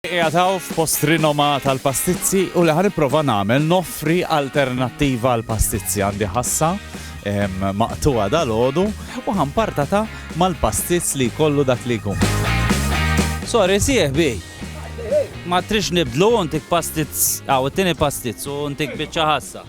Qiegħed hawn f'post rinomat għall-pastizzi u li ħa nipprova nagħmel noffri alternattiva għall-pastizzi għandi ħassa maqtuha dal-għodu u ħampartata mal-pastizz li jkollu dak li jkun. Sorry, sieħ bi. Ma trix nibdlu untik pastizz, għaw, it-tini pastizz u untik bieċa ħassa.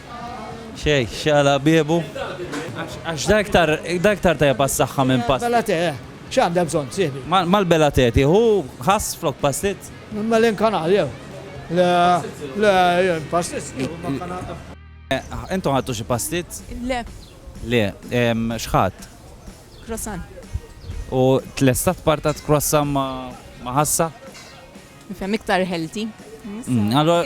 Xejn, x'għala biebu? Għax da iktar, da iktar tajjeb għas-saħħa minn past. Mela te, x'għandha bżonn, sieħbi? Mal-bela te tieħu ħass flok pastit? Mela inkanal jew? Le, le, jien pastit nieħu ma kanal. Intom ħadtu xi pastit? Le. Le, x'ħadt? Croissant. U tlesta tparta croissant ma' ħassa? Nifhem iktar healthy. Allora,